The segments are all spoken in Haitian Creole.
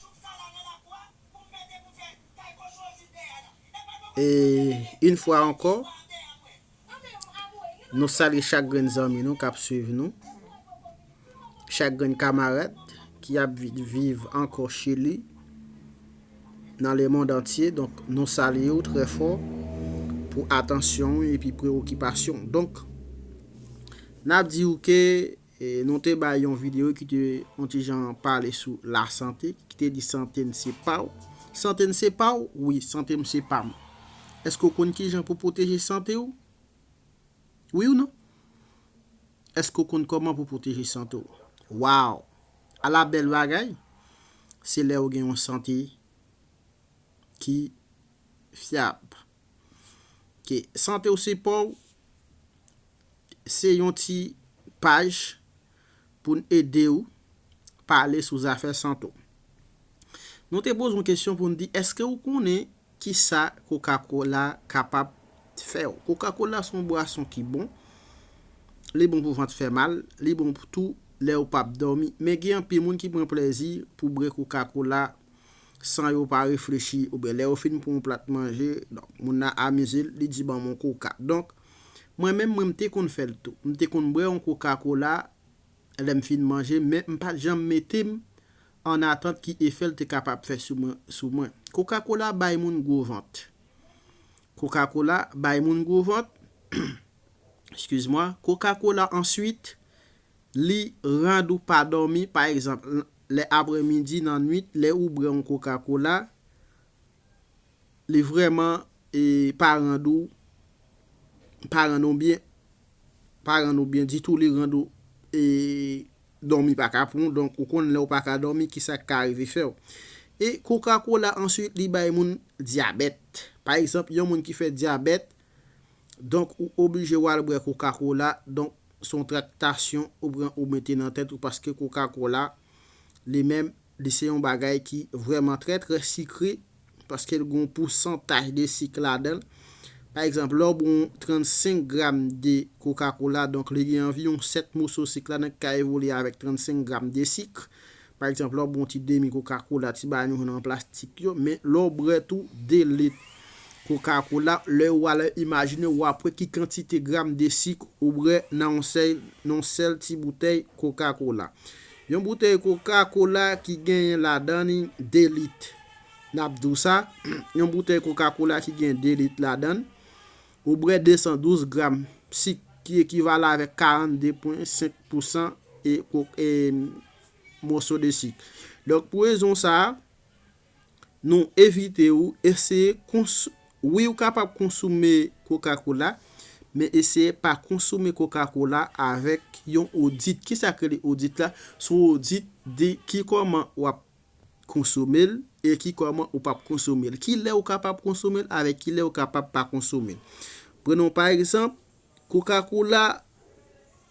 Tout sa la nan la kou a pou m mete pou fè kay kochon yo vin dèyè la. E pa nou E pase menm jan. Yn fwa ankò, Istwa a dèyè mwen. Anmeyy m amoure li nou salye chak grenn zanmi nou kap swiv nou, chak grenn kamarad ki ap viv ankò chili, nan le mond antye donk nou salye w trè fò pou atansyon w epi prewokipasyon w donk nap di w ke Nou te bay yon videyo ki te yon ti jan pale sou lasante, ki te di sante n se pa w. Sante n se pa w? Wi, sante m se pa m. Èske w konn ki jan pou w pwoteje sante w? Wi ou non? Èske w konn kòman pou w pwoteje sante w? Waw! Ala bèl bagay! Se lè ou gen yon sante ki fyab. Ke sante w se pa w se yon ti paj pou n ede w pale sou zafè sante w. Nou te poze yon kesyon pou n di eske ou konnen ki sa kokakola kapab fè w. Kokakola se yon bwason ki bon, li bon pou vant fè mal, li bon tou lè ou pap dòmi. Men gen anpil moun ki pran plezi pou bre kokakola san yo pa reflechi oubyen lè yo fin pran yon plat manje, donk moun nan amize l, li di ban m yon koka. Donk, mwen menm, mwen m te konn fè l tou. M te konn bwè yon koka kola lè m fin manje, men m pa t janm mete m an atant ki efè l te kapab fè sou mwen. Koka kola bay moun gwo vant. Koka kola bay moun gwo vant. Eskiz mwa. Koka kola answit Li rand ou pa dòmi, pa egzanp, lè apre midi, nan nwit, lè ou brè yon koka kola, li vrèman pa rand ou, pa rand ou byen, pa rand ou byen ditou, li rand ou e dòmi pa ka pran ou, donk ou konn lè ou pa ka dòmi ki sa k ka rive fè ou. E koka kola answit li bay moun dyabèt. Pa egzanp, yon moun ki fè dyabèt, Donk ou oblije wal bwè koka kola donk son traktasyon ou pran ou mete nan tèt ou paske koka kola li menm li se yon bagay ki vrèman trè trè sikre paskel gon pousantaj de sik ladanl pa egzanp lèw bwè yon 35 gram de koka kola donk li gen anviwon 7 moso sik ladan ki ka evolye avèk 35 gram de sik Pa egzanp, lè w bwè yon ti demi koka kola, ti bayon yo nan plastik yo, men lè w bwè tou 2 lit koka kola, lè ou alè imajine w ap wè ki kantite gram de sik ou bwè nan yon sèl ti boutèy koka kola. Yon boutèy koka kola ki genyen ladan li 2 lit. N ap di w sa, yon boutèy koka kola ki gen 2 lit ladan l, ou bwè 212 gram sik ki ekivalan avèk 42,5 pousan moso de sik. Donk pou rezon sa a, nou evite ou eseye konsome, wi ou kapab konsome koka kola, men eseye pa konsome koka kola avèk yon odit. Ki sa k rele odit la? Se yon odit de ki kòman w ap konsome l e ki kòman ou p ap konsome l. Ki lè ou kapab konsome l avèk ki lè ou kapab pa konsome l. Prenon pa egzanp, koka kola.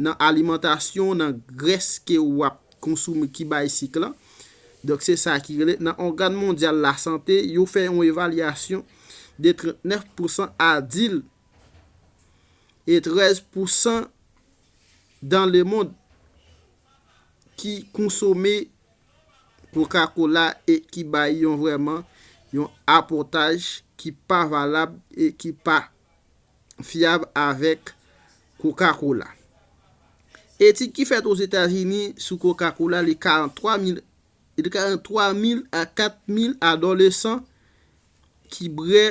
nan alimantasyon, nan grès ke ou ap konsome ki bay sik lan. Donk se sa ki rele, nan ògan mondyal lasante, yo fè yon evalyasyon de 39 pousan adil e 13 pousan dan le mond ki konsome koka kola e ki bay yon vrèman yon apòtaj ki pa valab e ki pa fyab avèk Coca-Cola. Etid ki fèt Ozetazini sou Coca-Cola li 43 mil li 43 mil a 4 mil adolesan ki bwè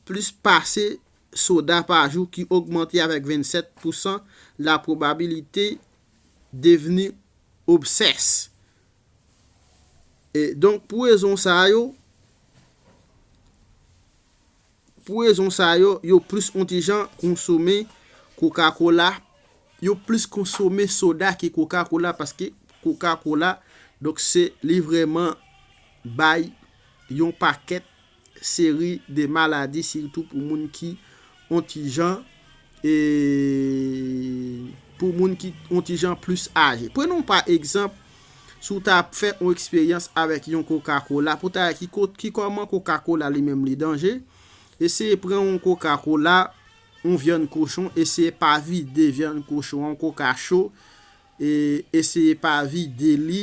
plis pase soda pa jou ki ogmante avèk 27 pousan la pwobabilite devni obsès. E donk pou rezon sa yo, Pou rezon sa yo, yo plis on ti jan konsome koka kola, yo plis konsome soda ke koka kola paske koka kola donk se li vrèman bay yon pakèt seri de maladi sitou pou moun ki on ti jan E pou moun ki on ti jan plis aje. Pran on pa egzanp, si w ta ap fè on eksperyans avèk yon koka kola, pou w ta wè ki kot, ki kòman koka kola li menm li danje, eseye pran on koka kola, on vyann kochon, eseye pa vide vyann kochon an, on koka cho, e eseye pa vide li.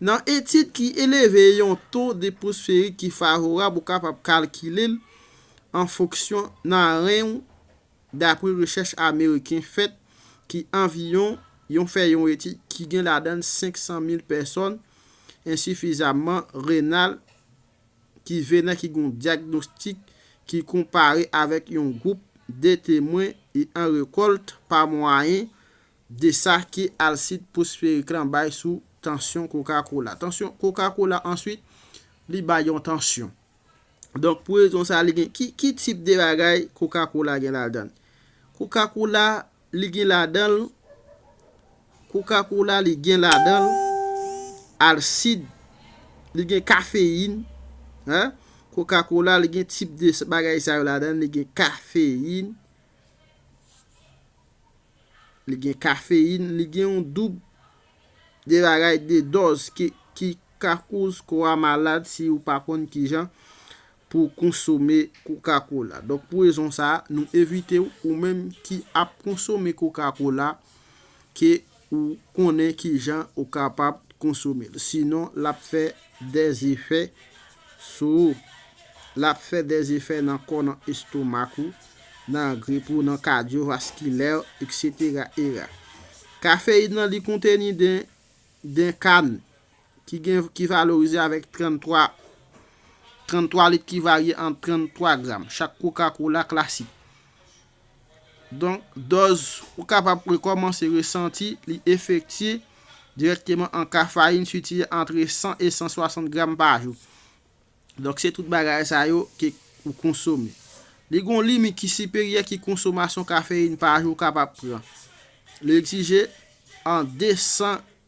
Nan etid ki eleve yon to depwosferik ki favorab ou kapab kalkile l an fonksyon nan ren ou dapre rechèch ameriken fèt ki anviyon yon fè yon etid ki gen ladan l 500 mil pèsòn ensifizamman renal ki venen ki gen yon dyagnostik ki konpare avèk yon gwoup de temwen e an rekòlt pa mwayen Desa ki alsit posferik lan bay sou tansyon koka kola. Tansyon koka kola answit li bay yon tansyon. Donk pou rezon sa li gen ki ki tip de bagay koka kola gen ladann. Koka kola li gen ladanl koka kola li gen ladanl alsid li gen kafeyin hein koka kola li gen tip de bagay sa yo ladann li gen kafeyin Li gen kafeyin, li gen yon doub de bagay, de dòz ki ka koz kò a malad si ou pa konn kijan pou konsome koka kola. Donk pou rezon sa a, nou evite ou, ou menm ki ap konsome koka kola, ke ou konnen kijan ou kapab konsome l. Sinon, l ap fè dè zefè. sou ou. L ap fè dè efè nan kò nan estomak ou, nan grip ou, nan kadyovaskilè w, eksetera era. Kafeyin nan li konteni den den kann ki gen ki valorize avèk 33 33 lit ki varye ant 33 gram chak kokakola klasik. Donk, dòz ou kapab rekòmanse resanti li efektye dirèkteman an ka farin sitye antre 100 e 160 gram pa jou. Donk, se tout bagay sa yo ke ou konsome. Li gon limit ki siperyè ki konsomasyon kafeyin pa jou ou kapab pran. Li egzije an 200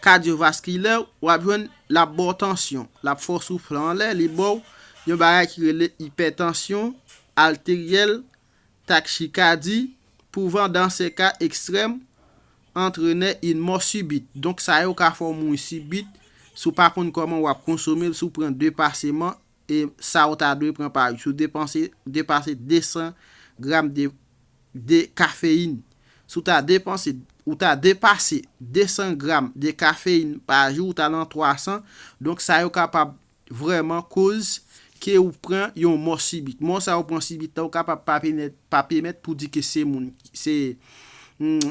Kadyovaskilè w, w ap jwenn l ap ba w tansyon, l ap fè w soufle anlè, li ba w yon bagay ki rele ipètansyon ateryèl, takchikadi, pou van dan se ka ekstrèm antrenè yn mò sibit. Donk sa yo ka fè w mouri sibit si w pa konn kòman w ap konsome l, si w pran depaseman e sa ou ta dwe pran pa jou depanse depase 200 gram de de kafeyin. Si w ta depanse ou ta depase 200 gram de kafeyin pa jou ou ta lan 300, donk sa yo kapab vrèman koz ke ou pran yon mò sibit. Mò sa ou pran sibit la ou kapab pa penèt pa pèmèt pou di ke se moun se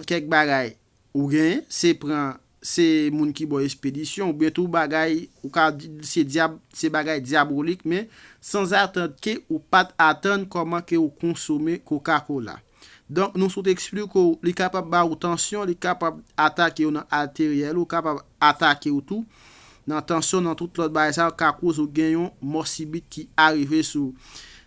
kèk bagay Ou gen, se pran, se moun ki baw espedisyon, ou byen tou bagay, ou ka di l se dyab, se bagay dyabolik men sanzatant ke ou pat atann kòman ke ou konsome koka kola. Donk nou sot eksplike w li kapab ba ou tansyon, li kapab atake w nan ateryèl ou, kapab atake w tou nan tansyon nan tout lòt bagay sa yo ka koz ou gen yon mò sibit ki arive sou ou.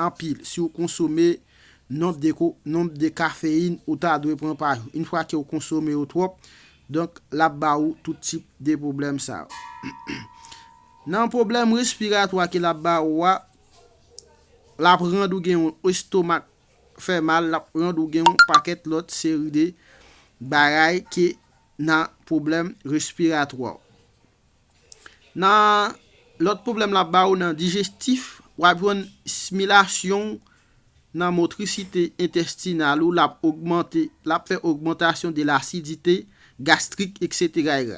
anpil si ou konsome nonb de nonb de kafeyin ou ta dwe pran pa jou. Une fwa ke ou konsome yo twòp, donk lap ba ou tout tip de pwoblèm sa yo. Nan pwoblèm respiratwa ke lap ba ou a, lap rand ou gen yon estomak fè mal, lap rand ou gen yon pakèt lòt seri de bagay ke nan pwoblèm respiratwa ou. Nan lòt pwoblèm lap ba ou nan dijestif, wap jwenn smilasyon w nan motrisite entestinal ou lap ogmante, lap fè ogmantasyon de l'acidite gastrique etc.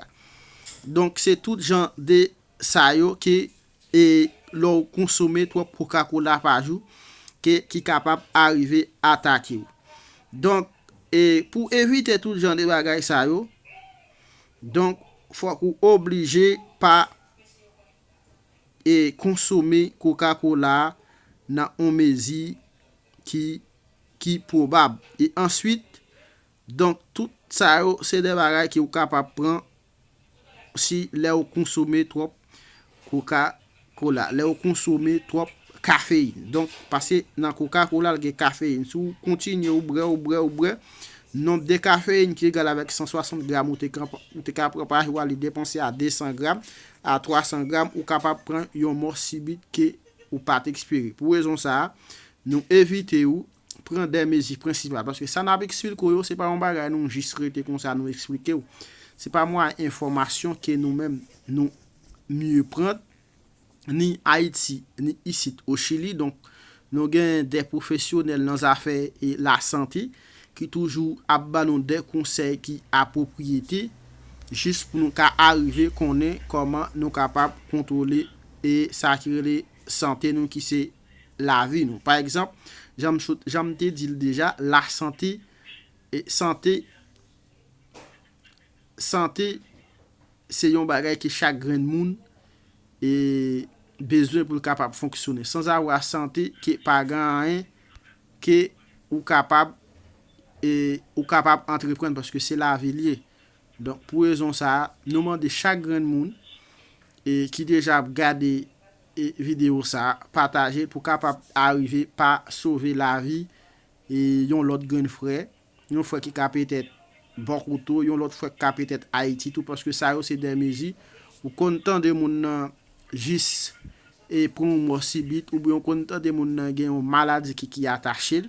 Donk se tout jan de sa yo ke e lè w konsome twòp coca cola pa jou ke ki kapab arive atake w. Donk e pou evite tout jan de bagay sa yo, Donk fòk ou oblije pa e konsome koka kola nan on mezi ki ki pwobab. E answit, donk tout sa yo se de bagay ki ou kapab pran si lè ou konsome twòp koka. Kola, lè ou konsome twòp kafeyin. Donk, pase nan koka kola l gen kafeyin. Si ou kontinye ou bwè, ou bwè, ou bwè, nonb de kafeyin ki egal avèk 160 gram ou te ka pran pa jou a li depanse a 200 gram a 300 gram, ou kapab pran yon mò sibit ke ou pa t espere. Pou rezon sa a, nou evite ou pran de mezi prensipal paske sa nap eksplikew yo se pa yon bagay nou jis rete konsa nou eksplikew se pa mwa enfòmasyon ke nou menm nou mye pran ni ayiti ni isit o chili donk nou gen de pwofesyonèl nan zafè e la sante ki toujou ap ban nou de konsèy ki apwopriyete jis pou nou ka arive konnen kòman nou kapab kontwole e sa ki rele sante nou ki se. lavi nou. Pa egzanp, jan m sot, jan m te di l deja, lasante, sante, sante se yon bagay ke chak grenn moun bezwen pou l kapab fonksyone. Sanzavwa sante ke pa gen anyen ke ou kapab, ou kapab antreprann paske se lavi l ye. Donk pou rezon sa a, nou mande chak grenn moun ki deja ap gade. e video sa patajel pou kapab arive pa sove lavi e yon lòt grenn frè yon frè ki ka petèt bò kot ou yon lòt frè ki ka petèt ayiti tou paske sa yo se dè mezi ou konn tande moun nan jis e pran yon mò sibit oubyen ou konn tande moun nan gen yon maladi ki ki atachel.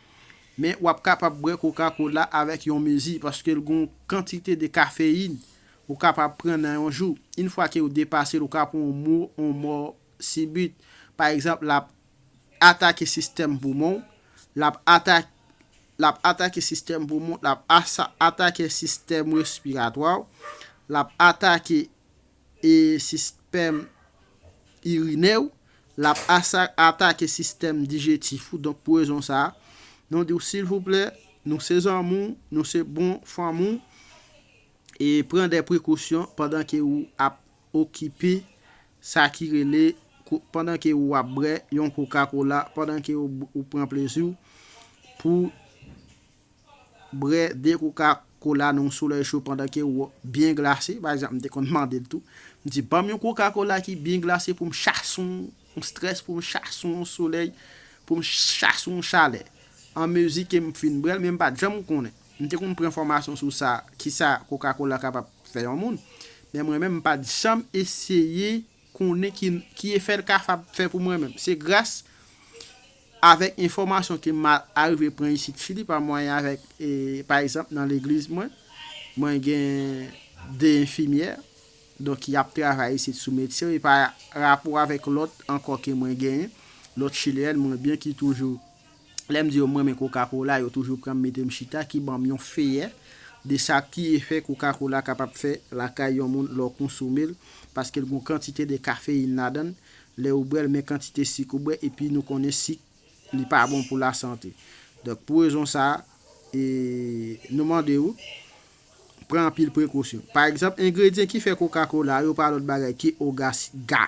Men wap kapab bwè koka kola avèk yon mezi paske l gon kantite de kafeyin ou kapab pran nan yon jou. Yn fwa ke ou depase l ou ka pran yon mou yon mò sibit. Pa egzanp lap atake sistèm poumon w, lap atak lap atake sistèm poumon w, lap asa atake sistèm respiratwa w, lap atake e sistèm irinè ou, l ap atake sistèm dijetif ou, donk pou rezon sa a, nou di w silvouplè, nou se zanmi w, nou se bon fanmi w, e pran dè prekosyon pandan ke ou ap okipe sa ki rele, pandan ke ou ap brè yon koka kola, pandan ke ou pran plezi w pou. Bre 2 kouka kola nan yon solèy cho pandan ke ou byen glase, pa egzanp m te konn mande l tou, m di banm yon kouka kola ki byen glase pou m chase yon strès, pou m chase yon solèy, pou m chase yon chalè. An mezi ke m fin bre l, men m pat janm konnen, m te konn pran fòmasyon sou sa, kisa kouka kola kapab fè yon moun, men mwen menm m pat janm eseye. konnen ki ki efè l kafab fè pou mwen menm. Se gras avèk enfòmasyon ke m arive pran isit Fili pa mwayen avèk e pa egzanp nan legliz mwen, mwen gen 2 enfimyè donk ki ap travay isit sou medsen e pa rapò avèk lòt ankò ke mwen genyen, lòt chilyèn mwen byen ki toujou. Lè m di yo m renmen koka kola, yo toujou pran m mete m chita ki ban m yon feyè de sa ki efè koka kola kapab fè lakay yon moun lè w konsome l paske l gen yon kantite de kafeyin ladan l lè ou bwè l men kantite sik ou bwè epi nou konnen sik li pa bon pou lasante. Donk pou rezon sa a nou mande ou pran anpil prekosyon. Pa egzanp engredyen ki fè koka kola yo pa lòt bagay ke ogas ga.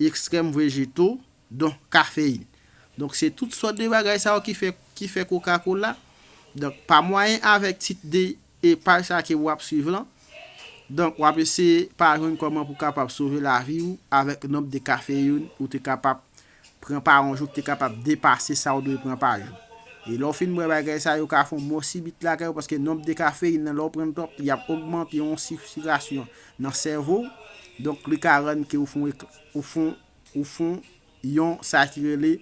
extrèm vejeto, donk kafeyin. Donk se tout sòt de bagay sa yo ki fè ki fè kokakola. Donk pa mwayen avèk tit de e paj sa ke wap swiv lan, donk wap eseye pa jwenn kòman pou kapab sove lavi ou avèk nonb de kafeyoun ou te kapab pran pa yon jou ki te kapab depase sa ou dwe pran pa jou. E lè w fin bwè bagay sa yo ka fè yon mò sibit lakay ou paske nonb de kafeyin nan lè w pran l twòp li ap ogmante yon sitirasyon nan sèvo w donk li ka rann ke ou fon ou fon ou fon yon sa ki rele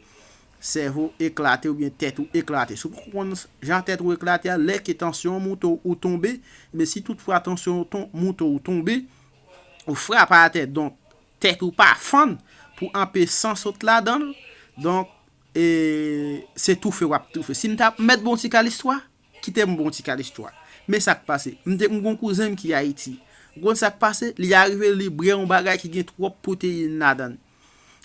sèvo eklate oubyen tèt ou eklate. Si w poko konn jan tèt ou eklate a lè ke tansyon w moute w ou tonbe, ebyen si tout fwa tansyon w moute w ou tonbe ou frape atè donk Tèt ou pa fann pou anpe san sot ladanl donk se toufe wap toufe sim ta mèt bon ti kal istwa kitem bon ti kal istwa men sak pase m gon kouzenm ki ayiti ou konn sak pase li arive li brè yon bagay ki gen twòp pwoteyin ladann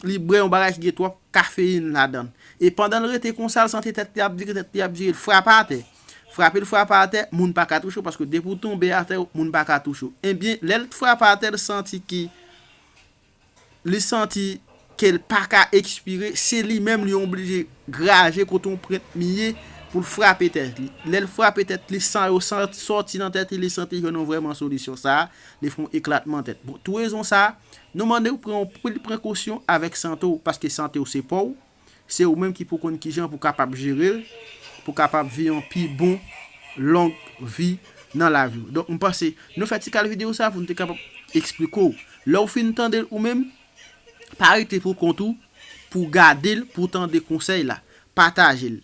li brè yon bagay ki gen twòp kafeyin ladann e pandanl rete konsal sante tèt li ap vire tèt li ap vire l frape atè. Frape l frapa atè, moun pa ka touche w paske depi w tonbe atè moun pa ka touche w. Ebyen lè l t frapa atè l santi ki li santi ke l pa ka ekspire se li menm li oblije graje kote yon prent mi ye pou l frape tèt li. Lè l frape tèt li san yo soti nan tèt li li santi jwenn yon vrèman solisyon sa a li fè yon eklatman tèt. Bon tou rezon sa a nou mande w pran yon pil prekosyon avèk sante w paske sante w se pa w. Se ou menm ki pou konn kijan pou kapab jere l, pou kapab vi yon pi bon long vi nan lavi w. Donk m panse nou fè ti kal video sa pou nou te kapab eksplike w. Lè w fin tande l ou menm, pa rete pou kont ou, pou gade l, pou tande konsèy la. Pataje l.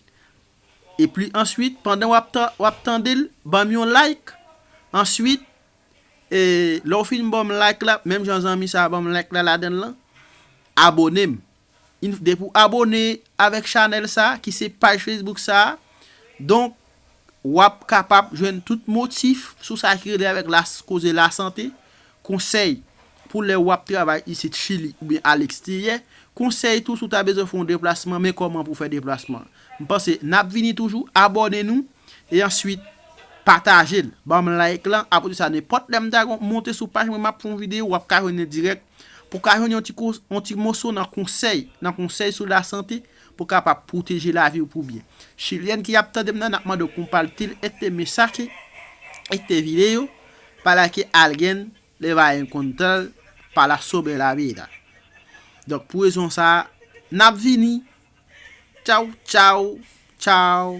Epi answit, pandan w ap w ap tande l, ban m yon like. Answit, e lè w fin ban m like la, menm jan zanmi sa a ban m like la ladan l lan, abone m. Yn fde pou abone avek chanel sa ki se paj Facebook sa donk wap kapab jwenn tout motif sou sa ki rele avek la koze la sante, konsey pou le wap travay isit chili oubyen a leksteryè, konsey tou si w ta bezwen fè yon deplasman men koman pou fè deplasman. M panse nap vini toujou abone nou e answit patajel banm like lan apresa nenpot lè m ta monte sou paj mwen map fè yon video wap ka jwenn li direk Pou w ka jwenn yon ti yon ti moso nan konsèy, nan konsèy sou lasante, pou w kapab pwoteje lavi w pou byen. Chilyèn ki ap tande m nan, n ap mande w konpatil este mesache, este video, para que alguien le va encontrar para sobre la vida. Donk pou rezon sa a, n ap vini! Tchaw tchaw! Tchaw!